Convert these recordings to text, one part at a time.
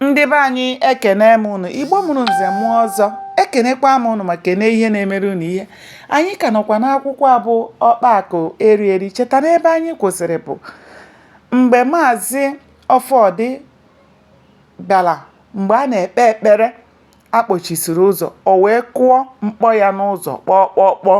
ndị be anyị ekene m ụnụ igbo mụrụ nze mụọ ọzọ ekenekwa m ụnụ ma kene ihe na-emere ụnụ ihe anyị ka nọkwa n'akwụkwọ a bụ ọkpa akụ eri eri cheta n'ebe anyị kwụsịrị bụ mgbe maazị ọfọdị bịara mgbe a na-ekpe ekpere a kpọchisiri ụzọ o wee kụọ mkpọ ya n'ụzọ kpọọ kpọọ kpọọ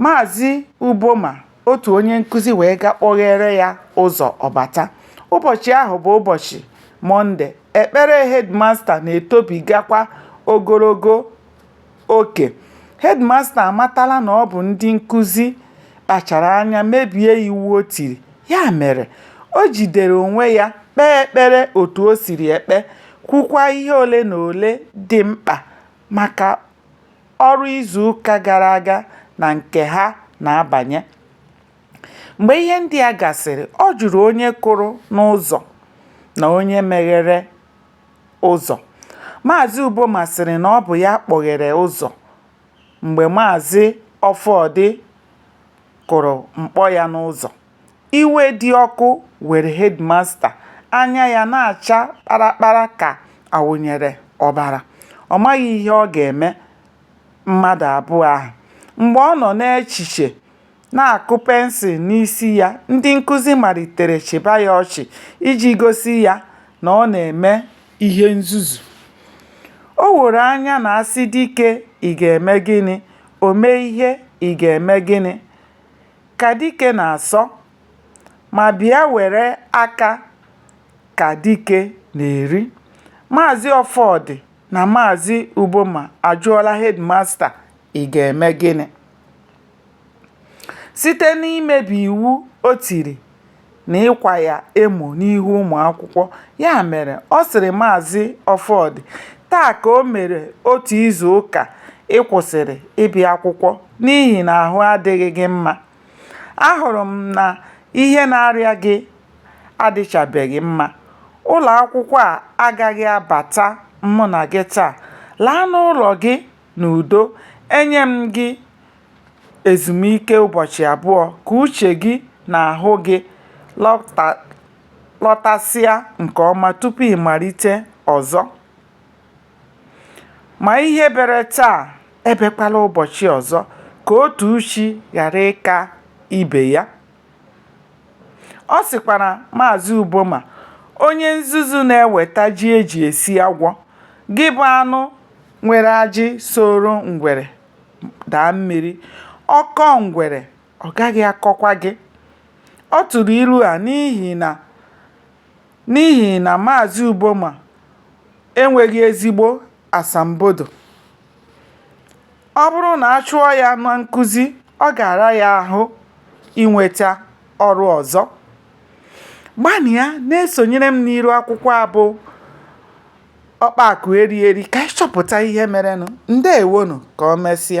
maazị uboma otu onye nkụzi wee ga kpọghere ya ụzọ ọbata ụbọchị ahụ bụ ụbọchị mọnde ekpere hedmasta na-etobigakwa ogologo oke hedmasta amatala na ọ bụ ndị nkụzi kpachara anya mebie iwu o tiri ya mere o jidere onwe ya kpee ekpere otu o siri ekpe kwukwa ihe ole na ole dị mkpa maka ọrụ izu ụka gara aga na nke ha na-abanye. Mgbe ihe ndị a gasịrị, ọ jụrụ onye kụrụ n'ụzọ na onye meghere ụzọ. Maazị Uboma sịrị na ọ bụ ya kpọghere ụzọ mgbe Maazị Ọfọdị kụrụ mkpọ ya n'ụzọ. Iwe dị ọkụ were hedịmasta, anya ya na-acha kparakpara ka a wụnyere ọbara. Ọ maghị ihe ọ ga-eme mmadụ abụọ ahụ. Mgbe ọ nọ n'echiche, na-akụ pensụl n'isi ya, ndị nkụzi malitere chịba ya ọchị iji gosi ya na ọ na-eme ihe nzuzu. O woro anya na a sị dike, ị ga-eme gịnị? O mee ihe, ị ga-eme gịnị? ka dike na-asọ, ma bịa were aka ka dike na-eri. Maazị Ọfọdị na Maazị Uboma ajụọla hedịmasta ị ga-eme gịnị? Site n'imebi iwu o tiri na ịkwa ya emo n'ihu ụmụ akwụkwọ. Ya mere, ọ sịrị Maazị Ọfọdị, Taa ka o mere otu izu ụka ị kwụsịrị ịbịa akwụkwọ n'ihi na ahụ adịghị gị mma. Ahụrụ m na ihe na-arịa gị adịchabeghị mma. Ụlọ akwụkwọ a agaghị abata mụ na gị taa. Laa n'ụlọ gị! n'udo, enye m gị ezumike ụbọchị abụọ ka uche gị na ahụ gị lọtasịa nke ọma tupu ị malite ọzọ. Ma ihe bere taa ebekwala ụbọchị ọzọ ka otu uchi ghara ịka ibe ya. Ọ sịkwara Maazị Uboma, onye nzuzu na-eweta ji e ji esi agwọ, gị bụ anụ nwere ajị soro ngwere daa mmiri ọ kọọ ngwere ọ gaghị akọkwa gị ọ tụrụ ilu a n'ihi na maazị Uboma enweghị ezigbo asambodo ọ bụrụ na a chụọ ya na nkụzi ọ ga-ara ya ahụ inweta ọrụ ọzọ gbanịa na-esonyere m n'iru akwụkwọ a bụ ọkpa akụ eri eri ka anyị chọpụta ihe merenụ ndewonụ ka o mesịa